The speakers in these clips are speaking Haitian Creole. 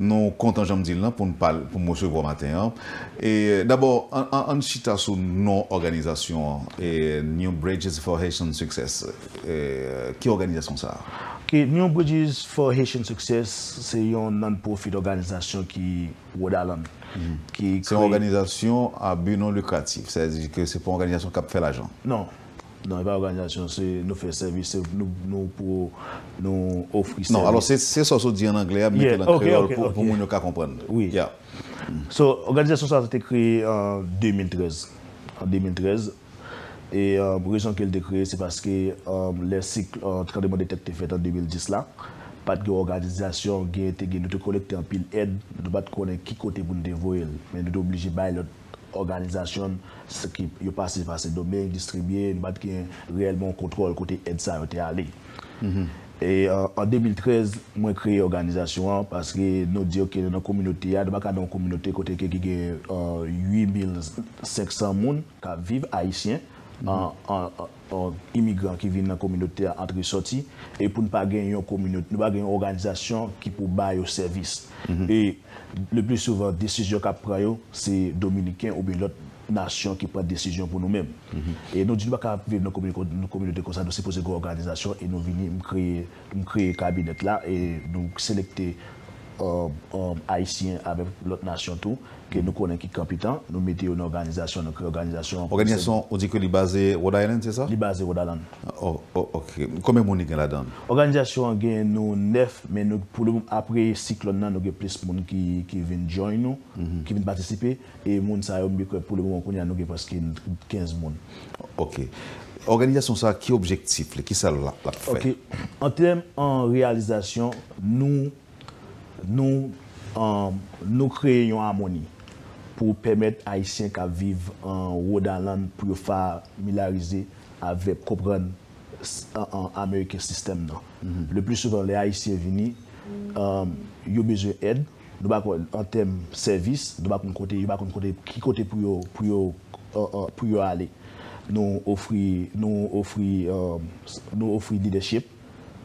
Nou kontan janm dil lan poun pal poum resevwa w maten an e dabò ann chita sou non òganizasyon an New Bridges for Haitian Success ki òganizasyon sa a? Ok New Bridges for Haitian Success se yon non-profit òganizasyon ki Rhode Island ki kreye. Se yon òganizasyon a bi non likratif sa vle di ke se pa yon òganizasyon kap fè lajan? Non. Non, e pa òganizasyon, se nou fè sèvis, se nou pou nou ofri sèvis. Non, alò se sa w sot di an anglè a, mete l an kreyòl pou moun yo ka konprann. Wi. Ya. So, òganizasyon sa a te kreye an 2013. An 2013. E rezon ke l te kreye se paske lè sik tranbleman de tè k te fèt an 2010 la, pa t gen òganizasyon, gen te gen, nou te kolekte anpil èd, nou pa t konnen ki kote pou nou te voye l. Men nou te oblije bay lòt òganizasyon s ki yo pase va Sen Domeng distribye, nou pa t gen reyèlman yon kontwòl kote èd sa yo te ale. E an 2013, mwen kreye òganizasyon an paske nou di ok nou nan kominote a, nou pa ka nan yon kominote kote ke ki gen 8,500 moun k ap viv, ayisyen, imigran ki vin nan kominote a antre sòti e pou n pa gen yon kominote nou pa gen yon òganizasyon ki pou ba yo sèvis e le pli souvan desizyon k ap pran yo se dominiken oubyen lòt nasyon ki pran desizyon pou nou menm e nou di nou pa ka viv nan kominote konsa nou sipoze gen òganizasyon e nou vini m kreye M kreye kabinèt la e nou selekte Ayisyen avèk lòt nasyon tou ke nou konnen ki kanpitan. Nou mete yo nan òganizasyon, nou kreye òganizasyon an. Òganizasyon an ou di ke li baze Rhode Island, se sa? Li baze Rhode Island. Ok. Konbyen moun li gen ladan l? Òganizasyon an gen nou 9 men nou pou le moman apre siklòn nan nou gen plis moun ki vin join nou, ki vin patisipe. E moun sa yo m bi kwè pou le moman kounye a nou gen preske 15 moun. Ok. Òganizasyon sa a ki objektif li? Kisa l ap fè? Ok. An tèm an reyalizasyon, nou nou nou kreye yon amoni pou pèmèt Ayisyen k ap viv an Rhode Island pou yo familarize avèk konprann American System nan. Le pli souvan lè Ayisyen vini, yo bezwen èd. Nou pa konn an tèm sèvis, nou pa konn kote, yo pa konn kote, ki kote pou yo, pou yo, pou yo ale. Nou ofri, nou ofri, nou ofri lidèchip,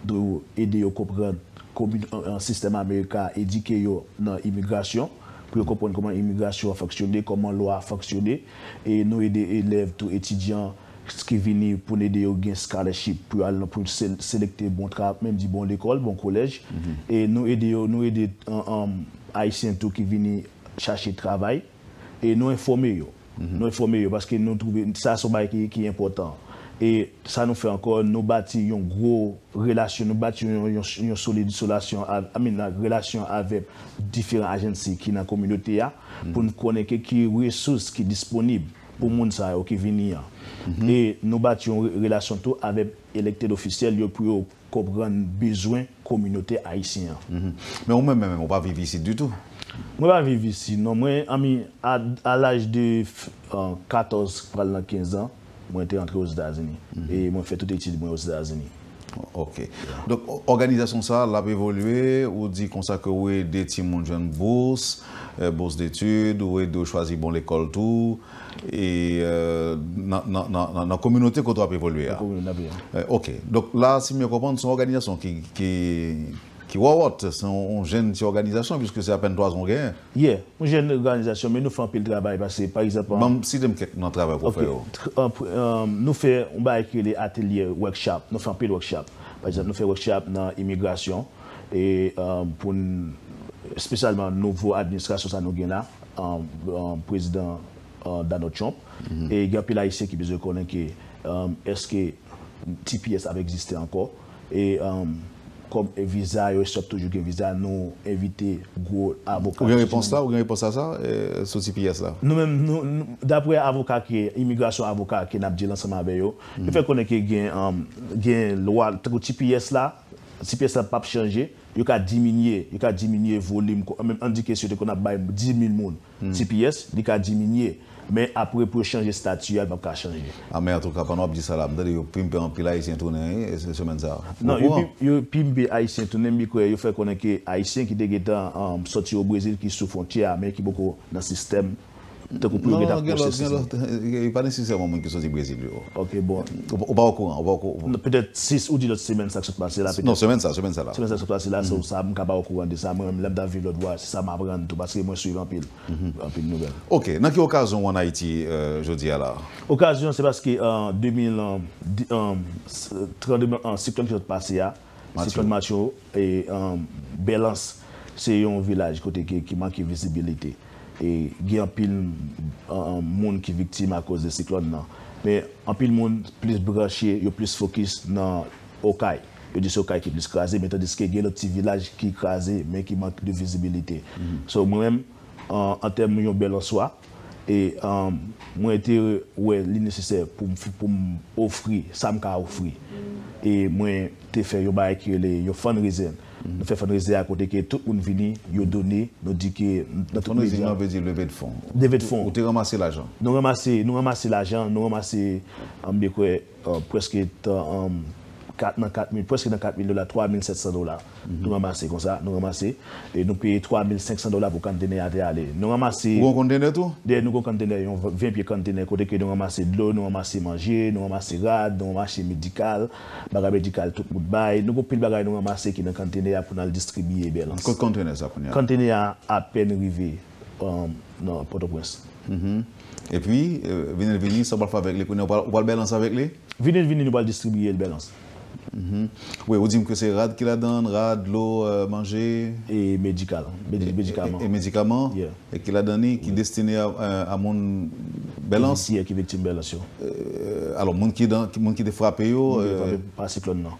nou ede yo konprann komin, sistèm Amerika a, edike yo nan imigrasyon, pou yo konprann kòman imigrasyon an fonksyone, kòman lwa a fonksyone, e nou ede elèv tou, etidyan, ki vini pou n ede yo gen scholarship pou yo al nan pou yo selekte bon tra menm di bon lekòl bon kolèj e nou ede yo nou ede ayisyen tou ki vini chache travay e nou enfòme yo nou enfòme yo paske nou twouve sa se yon bagay ki ki enpòtan e sa nou fè ankò nou bati yon gwo relasyon nou bati yon yon yon solid solasyon i mean a relasyon avèk diferan ajansi ki nan kominote a pou n konnen ke ki resous ki disponib. pou moun sa yo ki vini an. E nou bati yon relasyon tou avèk elected officiel yo pou yo konprann bezwen kominote ayisyen an. Men ou menm menm ou pa viv isit ditou? Mwen pa viv isi non mwen I mean a laj de 14 pral nan 15 ans mwen te antre Ozetazini e mwen fè tout etid mwen Ozetazini. Ok. Donk òganizasyon sa a l ap evolye, ou di konsa ke ou ede timoun jwenn bous, bous detid, ou ede yo chwazi bon lekòl tou, e nan kominote kote w ap evolye a. Ok. Donk la si m byen konprann se yon òganizasyon ki wòwòt, se yon jenn ti òganizasyon piske se apèn 3 zan w genyen. Yeah, yon jèn òganizasyon men nou fè anpil travay pase pa egzanp an. Banm site m kèk nan travay wap fè yo. Ok, nou fè yon bagay ki rele atelye, workshop, nou fè anpil workshop. Pa egzanp nou fè workshop nan imigrasyon e pou n espesyalman nouvo administrasyon sa nou gen la, prezidan Donald Trump e gen anpil ayisyen ki bezwen konnen ke èske. Tps ap egziste ankò e kòm viza yo esop toujou gen viza nou envite gwo avoka. Ou gen repons la ou gen repons a sa sou tps la? Nou menm nou daprè avoka ke imigrasyon avoka ke nap dil ansanm avè yo yo fè konnen ke gen gen lwa tankou tps la tps la pap chanje yo ka diminye yo ka diminye volim ann di ke si yo te konn ap bay 10000 moun Tps li ka diminye men apre pou yo chanje stati a li pap ka chanje. Amen antouka pandan wap di sa la m tande yo pimpe anpil ayisyen tounen wi semèn sa a ou kouran? Yo pimpe ayisyen tounen m kwè yo fè konnen ke ayisyen ki te gentan sòti o brezil ki sou fwontyè a men ki poko nan sistèm tankou pou yo gentan pwosese. Non gen lòt gen lòt e pa nesesèman moun ki sòti brezil yo. Ok bon ou pa okouran ou pa okouran. Petèt si ou di lòt semèn sa k sot pase la petèt. Non semèn sa semèn sa la. Semèn sa sot pase la so sa m ka pa okouran de sa mwen menm lè m t ap viv lòt bò a se sa m aprann tou paske mwen swiv anpil anpil nouvèl. Ok nan ki okazyon ou an Ayiti jodi a la? Okazyon se paske an 2000 an 30 an septanm ki sot pase a. Siklòn Matthew Belans se yon vilaj kote ki manke vizibilite e gen anpil moun ki viktim akoz de siklòn nan. Men anpil moun plis branche, yo plis fokis nan Okay. Yo di se Okay ki plis kraze men tandiske gen lòt ti vilaj ki kraze men ki mank de vizibilite. So mwen menm an tèm yon bèl answa. E mwen te wè li nesesè pou m ofri sa m ka ofri. E mwen te fè yon bagay ki rele yon fundraiser. Nou fè fundraiser a kote ke tout moun vini, yo done, nou di ke nan tout medya. Fundraising nan vle di leve de fon. Leve de fon. Ou te ranmase lajan. Nou ranmase lajan, nou ranmase, m dekwe. Prèske tan 4 nan 4 mil, prèske nan 4 mil dola, 3 mil 700 dola nou ranmase konsa, nou ranmase. E nou peye 3 mil 500 dola pou kantenè a te ale. Nou ranmase. Ou gen yon kontenè tou? Dèyè nou gen yon kantenè, yon 20 pye kantenè kote ke nou ranmase dlo, nou ranmase manje, nou ranmase rad, nou ranmase medikal, bagay medikal tout moun bay. Nou gen yon pil bagay nou ranmase ki nan kantenè a pou n al distribiye Bèlans. Kot kantenè sa kounye a? Kantenè a apèn rive. nan Pòtoprens. Epi, vini l vini, sa w pral fè avèk li kounye a? Ou pral bèlans avèk li? Vini l vini, nou pral distribiye l bèlans. Wi, ou di m ke se rad ki ladan l, rad, dlo, manje. E medikal, medikaman. E medikaman ki ladan li, ki destine a moun bèlans. Ki viktim bèlans yo. Alò, moun ki te frape yo. Moun ki te frape pa siklòn nan.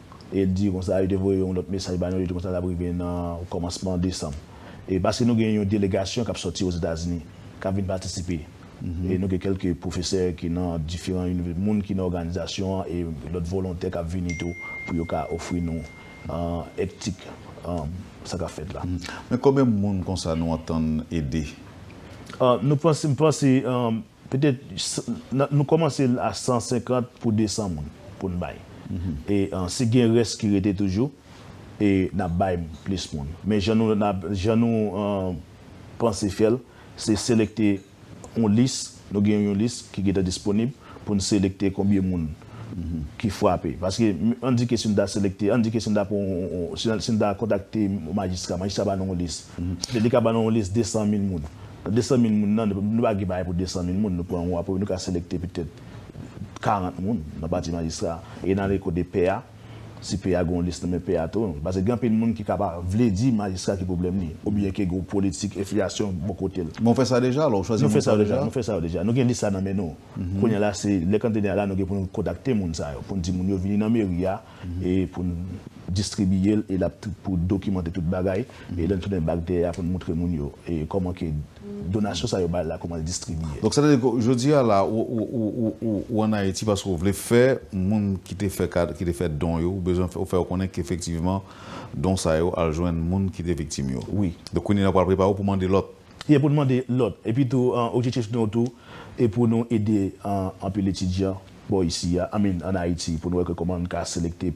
E l di konsa, yo te voye yon lòt mesaj ba nou, yo di konsa l ap rive nan kòmansman desanm. E paske nou gen yon delegasyon k ap sòti Ozetazini, k ap vin patisipe. E nou gen kèlke pwofesè ki nan diferan inivèsite, moun ki nan òganizasyon an e lòt volontè k ap vini tou pou yo ka ofri nou èptik sa k ap fèt la. Men konbyen moun konsa nou antann ede? Nou panse, m panse. Petèt nou kòmanse a 150 pou 200 moun pou n bay. E si gen rès ki rete toujou, n ap bay plis moun. Men jan nou panse fè l, se selekte yon lis, nou gen yon lis ki gentan disponib pou n selekte konbyen moun. ki frape paske an di ke si nou ta selekte an di ke si nou ta pran yon si nou ta kontakte yon majistra majistra ba nou yon lis petèt li ka ba nou yon lis 200 mil moun nan 200 mil moun nan nou pa gen bagay pou 200 mil moun nou pran yon aprè nou ka selekte petèt 40 moun nan pati majistra e nan ale kote pè a si pè a gen yon lis nan men pè a tou paske gen anpil moun ki ka pa vle di majistra ki pwoblèm li oubyen ke gen yon politik enfliyasyon bò kote l. Men w fè sa deja lè w chwazi moun sa deja? Nou fè sa yo deja nou gen lis la nan men nou. Kounye a la se lè kantene a la nou gen pou nou kontakte moun sa yo, pou n di moun yo vini nan meri a e pou n distribiye l e lap pou dokimante tout bagay e lè n tounen bak dèyè a pou n moutre moun yo e kòman ke donasyon sa yo bay la kòman l distribiye. Donk sa vle di ke jodi a la ou an Ayiti paske ou vle fè moun ki te fè kad ki te fè don yo ou bezwen ou fè yo konnen ke efektivman don sa yo al jwenn moun ki te viktim yo. Wi. Donk kounye a la ou pral prepare w pou mande lòt. Ye pou nou mande lòt. Epi tou objektif nou tou e pou nou ede anpil etidyan bò isi a, I mean an Ayiti pou nou wè ke kòman nou ka selekte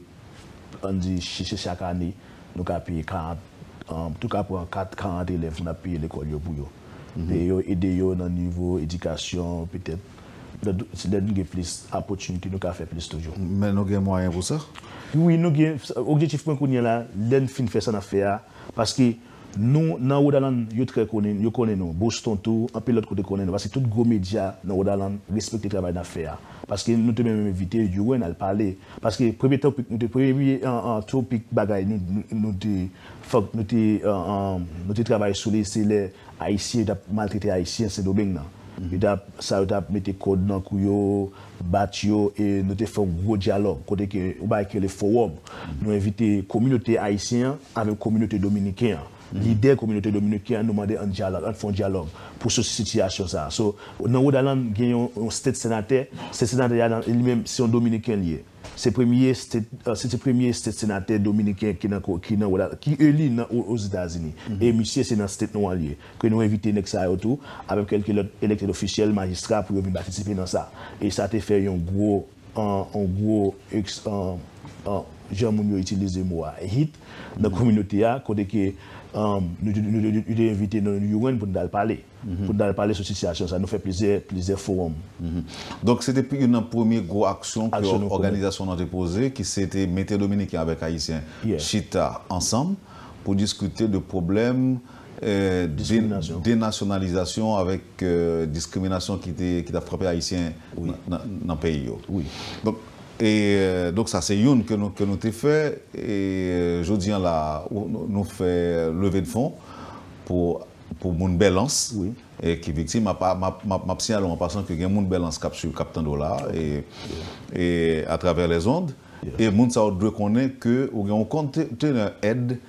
an di se chak ane nou ka peye 40 an tou ka pran 4, 40 elèv pou n ap peye lekòl yo pou yo peye yo, ede yo nan nivo edikasyon petèt lè nou gen plis apòtinite nou ka fè plis toujou. Men nou gen mwayen pou sa? Wi nou gen, objektif mwen kounyela lè n fin fè sa n ap fè a paske. Nou nan Rhode Island yo trè konin, yo konin nou, Boston tou, anpil lòt kote konin nou paske tout gwo medya nan Rhode Island respekte travay nap fè a. Paske nou te menm envite Uren al pale, paske premye topic nou te, premye topic bagay nou nou te fòk nou te nou te travay sou li se lè ayisyen yo tap maltrete ayisyen Sendomeng nan. Yo tap sa yo tap mete kòd nan kou yo, bat yo e nou te fè yon gwo dyalòg kote ke yon bagay ki rele fowòm. Nou envite kominote ayisyen an avèk kominote dominiken an. Lidè kominote dominiken an nou mande ann dyalòg, ann fè yon dyalòg pou soti sitiyasyon sa a. So, nan Rhode Island gen yon state senatè, state senatè a li menm se yon dominiken li ye. Se premye state, se te premye state senatè dominiken ki nan ki nan Rhode Island, ki eli nan Ozetazini. E misye se nan state nwa li ye. ke nou envite nèg sa yo tou avèk kèlke lòt elected official, majistra pou yo vin patisipe nan sa e sa te fè yon gwo yon gwo eks jan moun yo itilize mo a hit nan kominote a kote ke yo te envite nou yon rann pou nou tal pale pou nou tal pale sou sitiyasyon sa nou fè plizyè plizyè forum. Donk se te youn nan premye gwo aksyon ke òganizasyon nou te poze ki se te mete dominiken avèk ayisyen chita ansanm pou diskite de pwoblèm denasyonalizasyon avèk diskriminasyon ki t ap frape Ayisyen nan peyi yo. Donk sa se youn ke nou te fè. Jodi an la a, nou fè leve de fon pou moun Bèlans ki viktim. M ap siyale w an pasan ke gen moun Bèlans k ap suiv, k ap tande w la a atravè lèzond. E moun sa yo dwe konnen ke ou gen yon kontenè èd.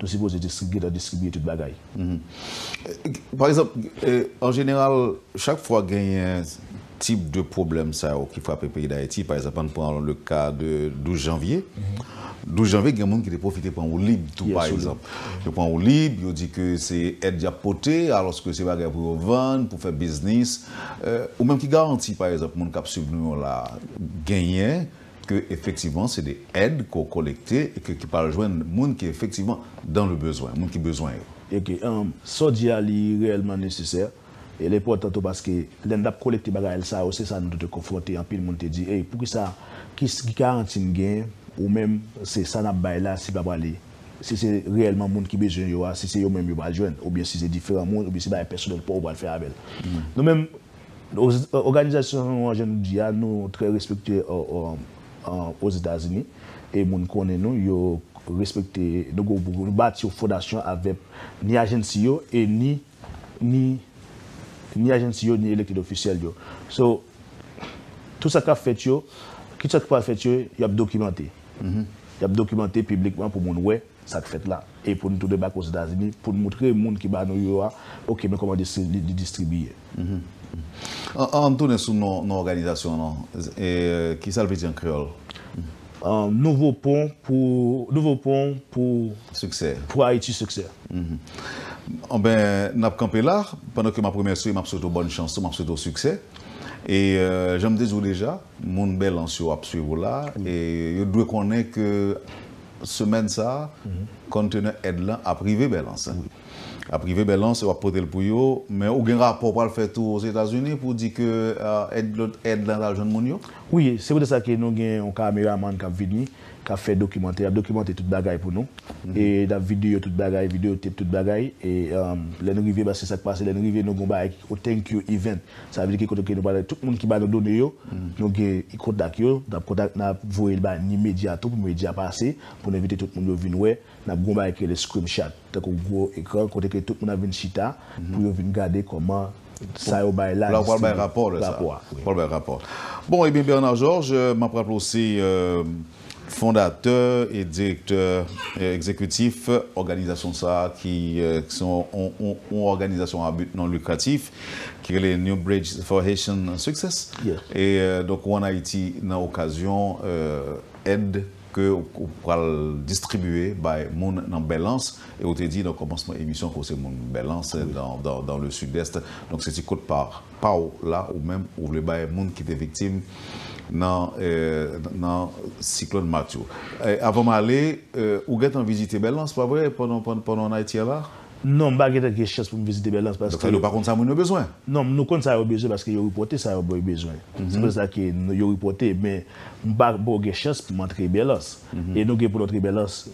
Tou sipoze distribye nan distribye tout bagay. Pa egzanp, an jeneral, chak fwa genyen tip de pwoblèm sa yo ki frape peyi Dayiti, pa egzanp, ann pran le ka de 12 janvye. 12 janvye gen moun ki te pwofite pran woulib tou pa egzanp. Yo pran woulib, yo di ke se èd y ap pote alòske se bagay pou yo vann, pou fè biznis. Ou menm ki garanti pa egzanp moun k ap suiv nou yo la genyen ke efektivman se de èd ke w kolekte e ke ki pa al jwenn moun ki efektivman dan le bezwen, moun ki bezwen yo. E ke sa w di a li reyèlman nesesè, e li enpòtan tou paske lè n t ap kolekte bagay sa yo se sa nou tou te konfwonte, anpil moun te di, ey pou kisa, ki garanti n gen ou menm se sa n ap bay la si pa prale, si se reyèlman moun ki bezwen yo a, si se yo menm yo pa al jwenn, oubyen si se diferan moun, oubyen se bagay pèsonèl pa w ou pral fè avè l. Nou menm Oganizasyon nou an, jan nou di a, nou trè respekte Ozetazini e moun konnen nou, yo respekte nou. Nou bati yon fondasyon avèk ni ajensi yo e ni ajensi yo ni elected ofisyèl yo. So, tout sa k ap fèt yo, kit sa ki pral fèt yo, y ap dokimante. Y ap dokimante piblikman pou moun wè. sa k fèt la e pou n tou debake Ozetazini pou n moutre moun ki ba nou yo a ok men kòman li distribiye. An n tounen sou non òganizasyon an non. Ki sa l vle di an kreyòl? Nouvo pon pou Nouvo pon pou Siksè Pou Ayiti Siksè. Anben, n ap kanpe la. Pandan ke m ap remèsye w e m ap swete w bòn chans tou, m ap swete w siksè. E jan m te di w deja. Moun Bèlans yo ap swiv ou la e yo t dwe konnen ke semèn sa konntenè èd lan ap rive Bèlans. Ap rive Bèlans e wap pote l pou yo, men ou gen rapò ou pral fè tou Ozetazini pou w di ke èd lòt èd lan al jwenn moun yo? Wi, se poutèt sa ke nou gen yon kameramann kap vini, kap fè dokimantè, yap dokimante tout bagay pou nou e nap videyo tout bagay, videyo tep tout bagay e lè n rive, paske sak pase lè n rive nou gen yon bagay ki o thank you event. Sa vle di ke kote ke nou pale, tout moun ki ba nou done yo, nou gen y kontak yo, n ap kontak, n ap voye l ba ni medya tou, pou medya pase, pou n envite tout moun yo vin wè. N ap gen yon bagay ki rele scrimshat, tankou gwo ekran, kote ke tout moun ap vin chita, pou yo vin gade kòman sa yo bay la distribye. La ou pral bay rapò de sa. Rapò a. Ou pral bay rapò. Bon, ebyen Bernard Georges, m ap raple w se. Fondatè e direktè egzekitif òganizasyon sa a ki se yon òganizasyon a but non lucratif ki rele New Bridge for Haitian Success e donk ou an Ayiti nan okazyon èd ke ou pral distribye bay moun nan Bèlans e ou te di nan kòmansman emisyon ke ou se moun Bèlans dans le sud-est donk se ti kote pa paw la ou menm ou vle bay moun ki te viktim nan nan siklòn Matthew avan m ale ou gentan vizite Bèlans pa vre pandan pandan w an Ayiti a la? Non m pa gentan gen chans pou m vizite Bèlans paske Dòk sa vle di ou pa konn sa moun yo bezwen? Non nou konn sa yo bezwen paske yo ripòte sa yo bezwen se pou tèt sa ke yo ripòte men m pa m poko gen chans pou m antre Bèlans e nou gen pou n antre Bèlans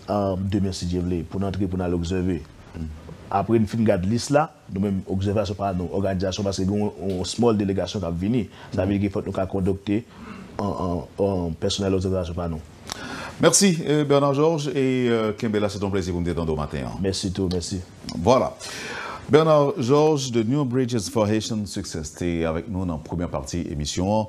demen si Dye vle pou n antre pou n al obsève apre m fin gad lis la Nou menm, obsèvasyon pa nou, òganizasyon, paske gen yon small delegasyon k ap vini, sa vle di ke fòk nou ka kondokte pèsonèl obsèvasyon pa nou. Mèsi Bernard Georges e kenbe la se te yon plezi pou m te tande w maten an. Mèsi tou, mèsi. Vwala. Bernard Georges de New Bridges for Haitian Success te avèk nou nan premyè pati emisyon an.